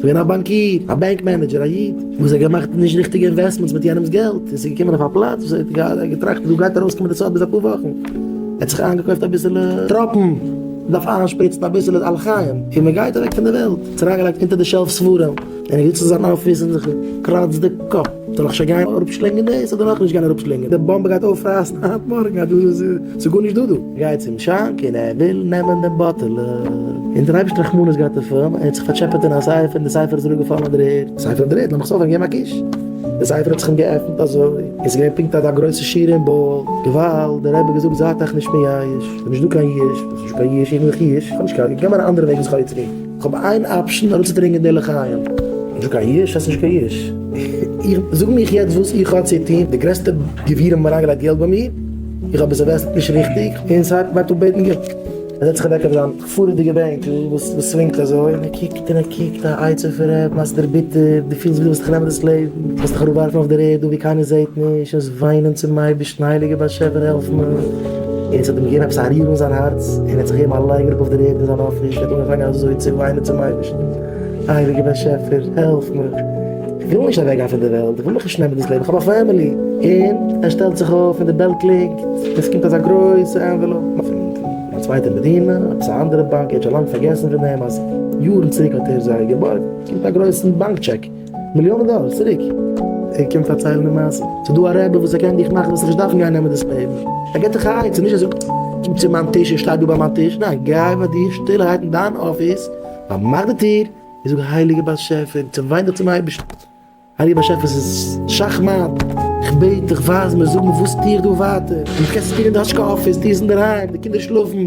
געווען א באנקיר, א בענק מענעדזשער, א איד וואס האט געמאכט נישט ריכטיגע אינוועסטמענטס מיט יענעמ'ס געלט, און ס'געקומען אויף א פלאץ וואס ער האט געהאט געטראכט דא גייט ארויסקומען די סוד ביז אפאר וואכן, ער האט זיך איינגעקויפט אביסעלע טראפן, מ'דארף איינשפריצן אביסעלע על חיים, און מ'גייט אוועק פון די וועלט, ער האט אריינגעלייגט אונטער די שעלף ספרים, און ער זיצט אין זיין אפיס און זיך קראצט די קאפ, זאל איך שוין גיין אראפשלינגען דאס אדער נאכנישט גיין אראפשלינגען, די באמבע גייט אויפרייסן היינט מארגן, ס'איז גארנישט דא דא. גייט צום שאנק און ער וויל נעמען דעם באטעלע, און דער אייבערשטער האט רחמנות געהאט אויף אים, ער האט זיך פארטשעפעט אין א ספר און די ספר איז אראפגעפאלן אויף דער ערד, די ספר אויף דער ערד, לאמיך עס אויפהייבן, געב אים א קוש, די ספר האט זיך אים געעפנט אזוי, און ס'איז געווען פונקט אט א גרויסע שירה אין באל, געוואלד, דער רבי האט געזאגט זייט אייך נישט מייאש, ס'איז נישט דא קיין יש, וואס איז נישט דא קיין יש, איך האב נאך נישט יש, איך האב נישט קיין, איך גיי מיינע אנדערע וועגן זיך ארויסצוגיין. כ'האב איין אפשן ארויסצוברענגען די לחיים. נישט קיין יש, האסט נישט קיין יש. איך זאג מיך יעצט וואס איך האב צו טון, די גרעסטע גבירים האבן אריינגעלייגט געלט ביי מיר, איך האב עס אינוועסטעד נישט ריכטיג, און סיי וועט אפ בעטן געלט. ער זעצט זיך אוועק אויף זיין פארעדיגע בענק וואס סווינגט אזוי, און ער קוקט און ער קוקט, א עצה פון ר' מאסדר ביטע, דו פילסט ווי דו ווילסט זיך נעמען דאס לעבן, דו ווילסט דיך אראפווארפן אויף דער ערד דא ווי קיינער זעט נישט, און וויינען צום אייבערשטן, הייליגער באשעפער העלף מיר. און ס'האט אים געגעבן עפעס א ריר אין זיין הארץ, און ער האט זיך געגעבן א לייג אראפ אויף דער ערד אין זיין אפיס, ער האט אנגעפאנגען אזוי צו וויינען צום אייבערשטן, הייליגער באשעפער, העלף מיך, איך וויל נישט אוועק גיין פון דער וועלט, איך וויל מיך נישט נעמען דאס לעבן, איך האב א פעמילי, און ער שטעלט זיך אויף און די בעל קלינגט, און ס'קומט אזא גרויסע ענוועלאופ פון א צווייטע מדינה, עפעס א אנדערע באנק, ער האט שוין לאנג פארגעסן פון דעם אז יארן צוריק האט ער זיי געבארגט, ס'קומט א גרויסן באנק טשעק. מיליאנען דאלער צוריק. ער קומט פארציילן די מעשה. ס'איז דא א רבי וואס ער קען דיך מאכן וועסט נישט דארפן גיין נעמען דאס פעיווער. ער געט דיך א עצה, נישט אזוי קום צו מיין טיש און שטיי דא ביי מיין טיש, ניין גיי ביי דיר שטילערהייט אין דיין אפיס, פארמאך די טיר און זאג הייליגער באשעפער און צעוויין דיך צום אייבערשטן, הייליגער באשעפער ס'איז שאך מאט, איך בעט דיך ווייז מיר, זאג מיר וואס טו איך דא ווייטער, און וואס קענסטו טון אין די האטשקע אפיס, טו עס אינדערהיים, די קינדער שלאפן.